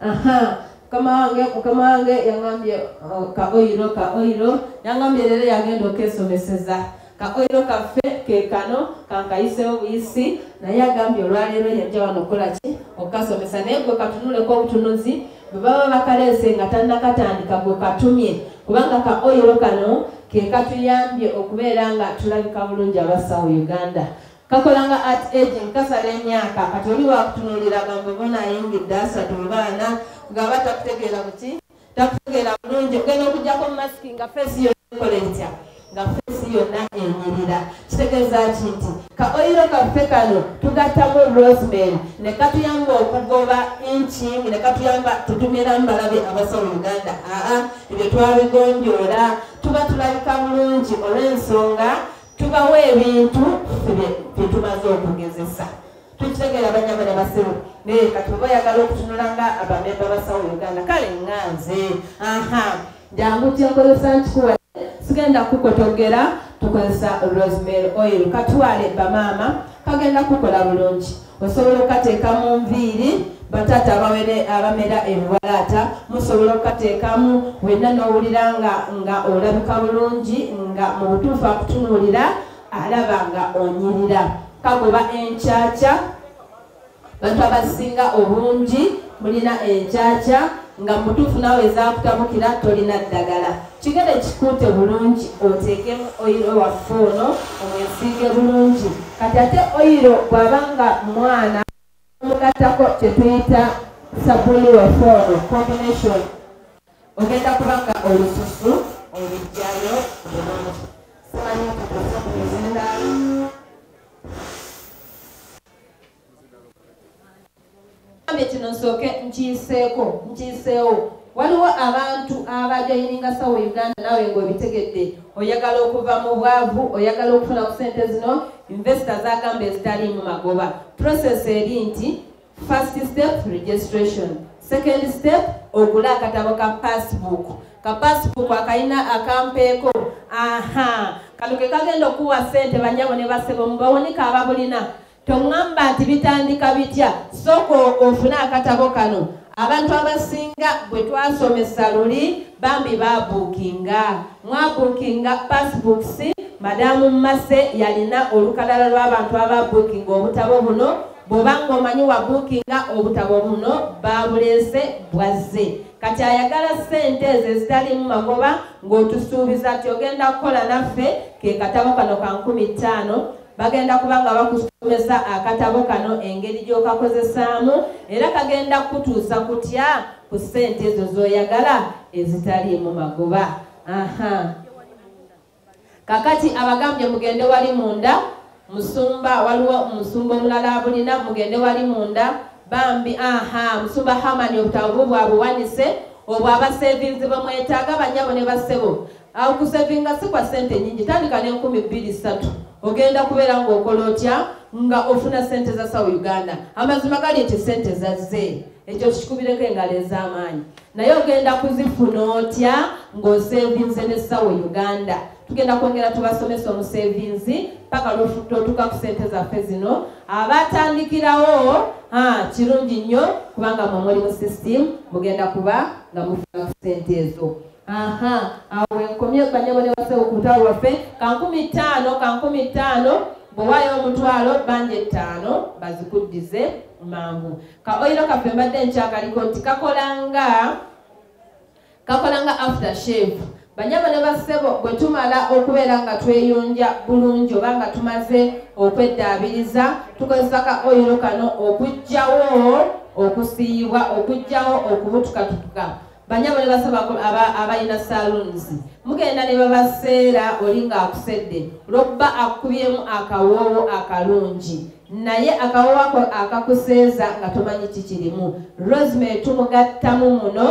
aha mukama wange mukama wange yangambye oh, ka oyiro ka oyiro yangambye leero yagenda okesomeseza ka oyiro kaffe kekano kankayisewo buyisi naye agambye olwaleero yajja wano okola ki okukasomesa naye gwe katunuleko obutunuzi bwe baba bakaleese nga tannakatandika gwe katumye kubanga ka oyiro kano kekatuyambye okubeera nga tulabika bulungi abasawo uganda kakola nga art aging kasala emyaka kati oli wakutunulira gambo bona ayingidde asatu mu baana ngaba takutegeera buki takutegeera bulungi ogenda okujjako masiki nga fesi yokola etya nga fesi yonna enyirira kitegeeza ki nti ka oyiro kaffe kano tugattamu rosemary ne katuyamba okugoba inching ne katuyamba tutumira mbalabe abasa mu uganda aa ebyo twabigonjoola tuba tulabika bulungi olw'ensonga tubawa ebintu byetumaze okugezesa tukitegeera banyama ne basiru naye kati oba oyagala okutunula nga abamemba basawo uganda kale nga nze aha jangu kyenkozesa nkikuwa sigenda kukotogera tukozesa rosemary oil katwale bamaama kagenda kukola bulungi osobola okukateeka mu nviiri bataata abawere abamera ebiwalaata musobola okukateekamu wenna n'owulira nga nga olabika bulungi nga mu butuufu akutunuulira alaba nga onyirira kagoba enkyakya bantu abasinga obungi mulina enkyakya nga mubutuufu nawe ezakutabukira tolina ddagala kigere kikuute bulungi oteekemu oyiro waffe ono omwesiige bulungi kati ate oyiro bwaba nga mwana omugattako kyetuyita sabuni waffe ono combination ogenda kuba nga olususu olujjayo bulungi simanyi okutuusa ku mizindaalo kino nsooke nkiyiseeko nkiyiseewo waliwo abantu abajoyininga sawa uganda naawe ngaobitegedde oyagala okuva mu bwavu oyagala okufuna ku sente zino investo zagamba ezitaliimu magoba process eri nti first step registration second step ogula akatabo ka passbook ka passbook akalina akampeeko aha kano ke kagenda okuwa sente banyabo ne basebo mubawonika ababulina Tongamba nti bitandika bitya soko ofune akatabo kano abantu abasinga bwe twasomesa luli bambi babuukinga mwabuukinga passbooks madamu mase yalina olukalala lw'abantu ababuukinga obutabo buno bwoba ngaomanyi wabuukinga obutabo buno babuleese bwazze kati ayagala sente ezo ezitalimu magoba ng'otusuubiza ti ogenda kukola naffe ke katabo kano ka nkumi ttaano bagenda kuba nga bakusomesa akatabo kano engeri gy'okakozesaamu era kagenda kukutuusa kutya ku ssente ezo z'oyagala ezitaliimu magoba aha kakati abagambye mugende wali munda musumba waliwo omusumba omulala abulina mugende wali munda bambi aha musumba hamani obutabu bwabuwanise obwo abasevinzi bamwetaaga banyabo ne basebo Awo kusevinga si kwa sente nyingi, tandika ne nkumi bbiri ssatu ogenda kubeera ng'okola otya nga ofuna sente za sawa uganda amazima gali nti sente zazze ekyo tukikubireko engalo ez'amaanyi naye ogenda kuzifuna otya ng'osevinze ne sawa uganda tugenda kwongera tubasomesa omusevinzi paka lwotuka ku sente zaffe zino abatandikirawo kirungi nnyo kubanga mwe muli mu system mugenda kuba nga mufuna ku sente ezo aha awo wenkomye banyabo ne basewo ku lutalo lwaffe kankumi ttaano kankumi ttaano bwewaayo omutwalo banja ettaano bazikuddize mangu ka oyiro kaffe mbadde nkyakaliko nti kakolanga kakolanga after shave banyabo ne bassebo bwe tumala okubeera nga tweyonja bulungi oba nga tumaze okweddaabiriza tukozesa ka oyiro kano okugjawo okusiiyibwa okugjawo okubutukatutuka banyabo ne basaba abalina saloons mugenda ne babaseera oli ng'akusedde olwokuba akubyemu akawoowo akalungi naye akawoowo ako akakuseeza nga tomanyi kikirimu rosemary tumugattamu muno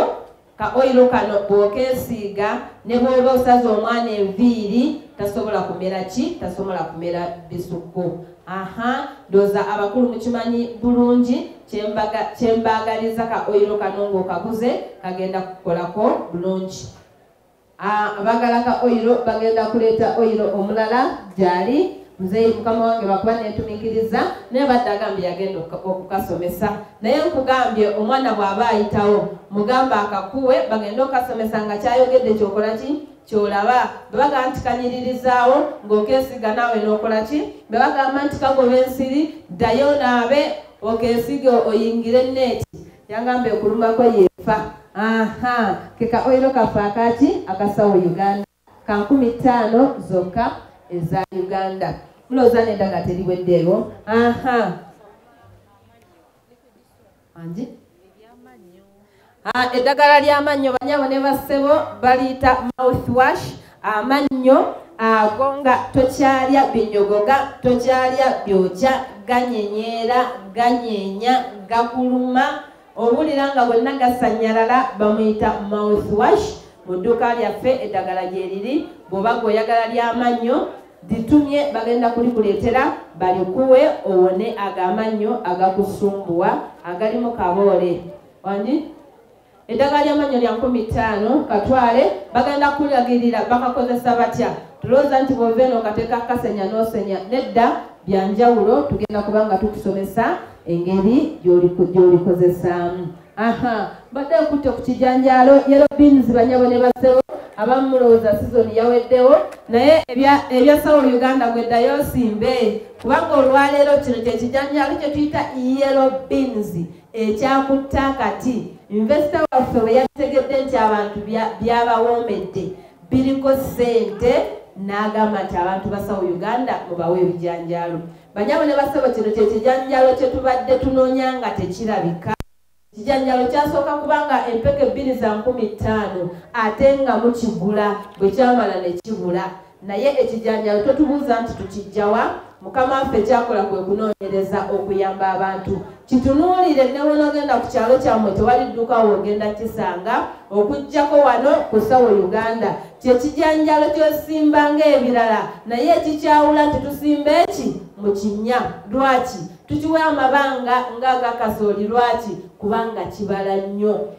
ka oyiro kano bw'okeesiiga ne bw'oba osaza omwana enviiri tasobola kumera ki tasobola kumera bisukko aha ndoza abakulu mukimanyi bulungi kyembaagaliza ka oyiro kano ngaokaguze kagenda kukolako bulungi abagala ka oyiro bagenda kuleeta oyiro omulala gyali muzeeyi mukama wange bakuba nentumikiriza naye badde agambye yagenda okukasomesa naye nkugambye omwana bw'aba ayitawo mugamba akakuwe bagende okukasomesa nga kyayogedde kyokola ki kyolaba bwe bagamba nti kanyiririzaawo ng'okeesiga naawe n'okola ki bwe bagamba nti kagoba ensiri ddayo naabe okeesige oyingire neeti yangamba ekulumako yeefa aha keka oyiro kaffe akaki akasawo uganda ka nkumi ttaano zokka eza uganda mulowooza nenda nga teriweddeewo aha anje eddagala ly'amannyo banyabo ne bassebo baliyita mouth wash amannyo ago nga tokyalya binyogoga tokyalya byokya ganyenyeera ganyenya gakuluma owulira nga bonna gasanyalala bamuyita mouth wash mu dduuka lyaffe eddagala gyeriri bw'oba gweoyagala ly'amannyo litumye bagenda kulikuleetera balikuwe owone ago amannyo agakusumbuwa agalimu kaboole wani eddagala lyamannyo lya nkumi ttaano katwale bagenda kulagirira bakakozesa batya tulowooza nti bwova eno ngateeka kasenya n'osenya nedda byanjawulo tugenda kubanga tukusomesa engeri gy'olikozesaamu aha mbadde nkutte ku kijanjaalo yero beans banyabo ne basebo abamu mulowooza sizoni yaweddewo naye ebya sawo uganda gweddayo osimbe kubanga olwaleero kino kyekijanjaalo kye tuyita yero beans ekyakutta kati invesita waffe bwe yakitegedde nti abantu byabawoomedde biriko ssente n'agamba nti abantu basawo uganda mubawe ebijanjaalo Banyabo ne basebo kino kye kijanjalo kye tubadde tunoonya nga tekirabika. Ekijanjalo kyasooka kuba nga empeke bbiri za nkumi ttaano ate nga mukigula bwe kyamala ne kibula. Naye ekijanjalo totubuuza nti tukijjawa? Mukama waffe kyakola kwe kunoonyereza okuyamba abantu. Kitunuulire ne wonogenda ku kyalo kyammwe tewali dduka wogenda kisanga okujjako wano ku sawo Uganda kye kijanjalo kyosimba ng'ebirala naye ekikyawula nti tusimba eki mu kinnya lwaki tukiwa amabanga ng'agakasooli lwaki kubanga kibala nnyo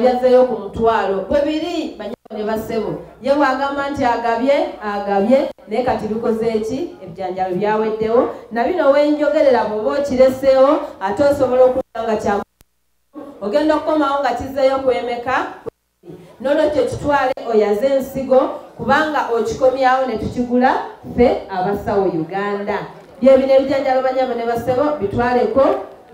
byazzeeyo ku mutwalo bwe biri banyabo ne bassebo ye bw'agamba nti agabye agabye naye kati bikoze ki ebijanjalo byaweddewo na bino wenjogerera bw'oba okireseewo ate osobola okuba nga kya ogenda okukomawo nga kizzeeyo kwemeka n'olwekyo kitwale oyaze ensigo kubanga okikomyawo ne tukigula ffe abasawo uganda byebino ebijanjalo banyabo ne bassebo bitwaleko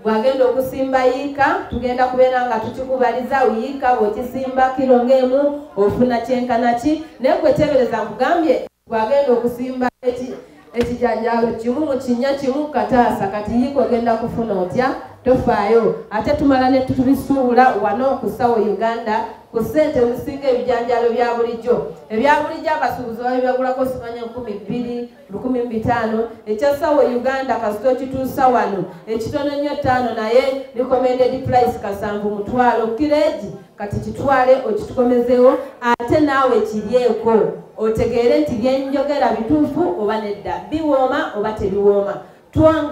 gwagenda okusimba yiika tugenda kubeera nga tukikubaliza yiika bwekisimba kiro ngaemu ofuna kyenkana ki naye kwetebereza nkugambye gwagenda okusimba ekijanjalo kimu mu kinya kimu kataasa kati yiika ogenda kufuna otya tofaayo ate tumala netubisuubula wano okusawo uganda ku ssente ezisinga ebijanjalo bya bulijjo ebya bulijjo abasuubuzi babibagulako simanya enkumi bbiri lukumi mu bitaano ekyasawo e uganda kasita okituusa wano ekitono nnyo ttaano naye recommended price kasanvu mutwalo kireegi kati kitwale okitukomezewo ate naawe kiryeko otegeere nti byenjogera bituufu oba nedda biwooma oba tebiwooma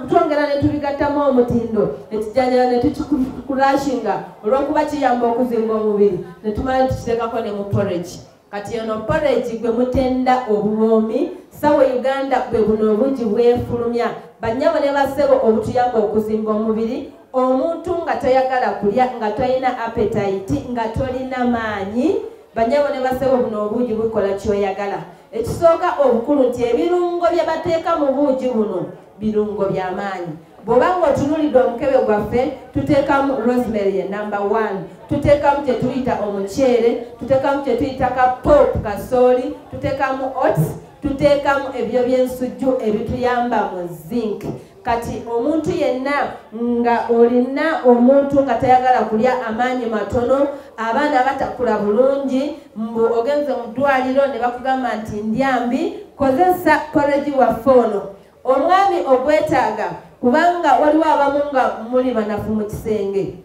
twongera ne tubigattamu omutindo ekijanjala ne tukikulashinga olw'okuba kiyamba okuzimba omubiri ne tumala ne tukiteekako ne mu poregi kati ono porridge gwe mutenda obuwoomi sawe uganda bwe buno obungi bwefulumya bannyabo ne basebo obutuyamba okuzimba omubiri omuntu nga toyagala kulya nga tolina apetayiti nga tolina maanyi bannyabo ne basebo buno obungi bukola kyoyagala ekisooka obukulu nti ebirungo bye bateeka mu buugi buno birungo by'amaanyi bw'oba ng'otunuulidde omukebe gwaffe tuteekamu rosemary ye number one tuteekamu kye tuyita omuceere tuteekamu kye tuyita ka pop kasooli tuteekamu ots tuteekamu ebyo by'ensujju ebituyamba mu zinc kati omuntu yenna nga olina omuntu nga tayagala kulya amaanyi matono abaana batakula bulungi mbu ogenze mu ddwaliro ne bakugamba nti ndyambi kozesa koregi waffe ono Omwami ogwetaaga kubanga waliwo abamu nga muli banafu mu kisenge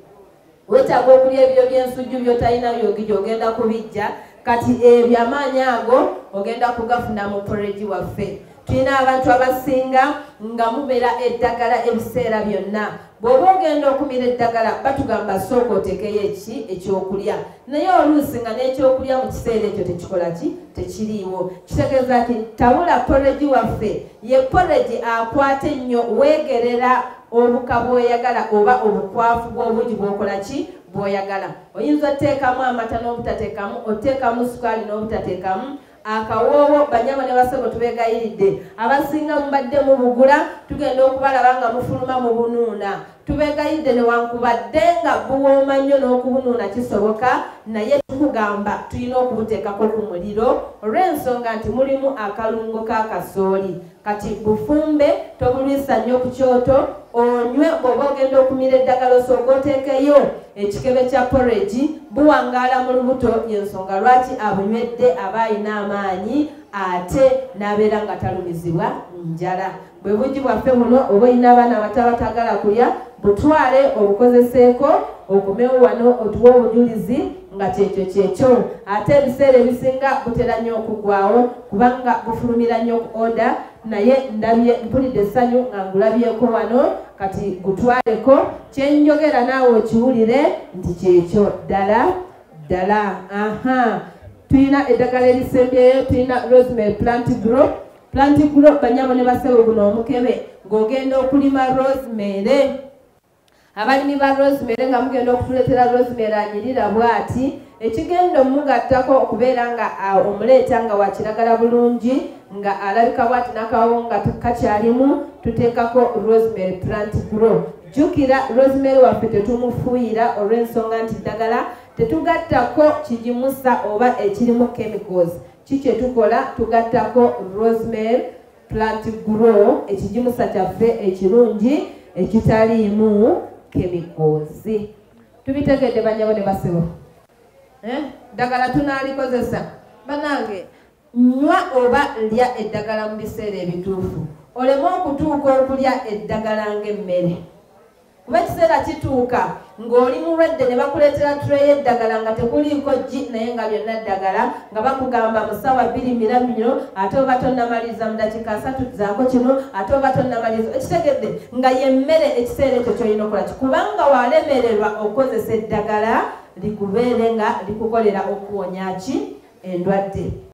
wetaaga okulya ebiro by'ensujju byotalina byogija ogenda kubijja kati ebyo amaanyi ago ogenda kugafuna mu poreji waffe tulina abantu abasinga nga mubeera eddagala ebiseera byonna bw'oba ogenda okumira eddagala batugamba sooka oteekeyo eki ekyokulya naye oluusi nga n'ekyokulya mu kiseera ekyo tekikola ki tekiriiwo kitegeeza ti tabula poregi waffe ye poregi akwata ennyo weegerera obuka bwoyagala oba obukwafu bw'obungi bwokola ki bwoyagala oyinza oteekamu amata n'obutateekamu oteekamu sukaali n'obutateekamu akawoowo banyabo ne basebo tubegayiridde abasinga mubadde mubugula tugenda okubalaba nga mufuluma mu bunuuna tubegayidde newankubadde nga buwooma nnyo n'okubunuuna kisoboka naye tukugamba tulina okubuteekako ku muliro olw'ensonga nti mulimu akalungo k'akasooli kati bufumbe tobulwisa nnyo ku kyoto onywe bw'oba ogenda okumira eddagala osooka oteekeyo ekikebe kya poregi buwangaala mu lubuto yensonga lwaki abunywedde aba alina amaanyi ate n'abeera nga talumizibwa njala bwe bugi bwaffe buno oba olina abaana abato abatagala kulya butwale obukozeseeko okomewo wano otuwa obujulizi nga kyekyo kyekyo ate ebiseera ebisinga butera nnyo okugwawo kubanga bufulumira nnyo ku oda naye ndabye mpulidde essanyu nga ngulabyeko wano kati gutwaleko kyenjogera naawe okiwulire nti kyekyo ddala ddala aha tulina eddagala erisembyeyo tulina rosemary plant group plant group banyabo ne basebo guno omukebe ng'ogenda okulima rosemary abalimi ba rosemary nga mugenda okutuletera rosemary anyirira bwati ekigenda omugattako okubeera nga omuleeta nga wakiragala bulungi nga alabika bwati nakawo nga kakyalimu tuteekako rosemary plant grow jjukira rosemary waffe tetumufuuyira olw'ensonga nti ddagala tetugattako kigimusa oba ekirimu chemicals ki kyetukola tugattako rosemary Plant Grow ekigimusa kyaffe ekirungi ekitaliimu kemikoozi tubitegedde banyabo ne basebo eh? ddagala tunaalikozesa banange nywa oba lya eddagala mu biseera ebituufu oleme okutuuka okulya eddagala ng'emmere kuba ekiseera kituuka ng'oli mulwadde ne bakuleetera ture y'eddagala nga tekuliiko gi naye nga byonna ddagala nga bakugamba mu ssaawa bbiri miramiro ate oba tonnamaliriza mu dakiika asatu zaako kino ate oba tonnamaliriza ekitegedde nga yemmere ekiseera ekyo kyolina okola ki kubanga walemererwa okukozesa eddagala likubeere nga likukolera okuwonya ki endwadde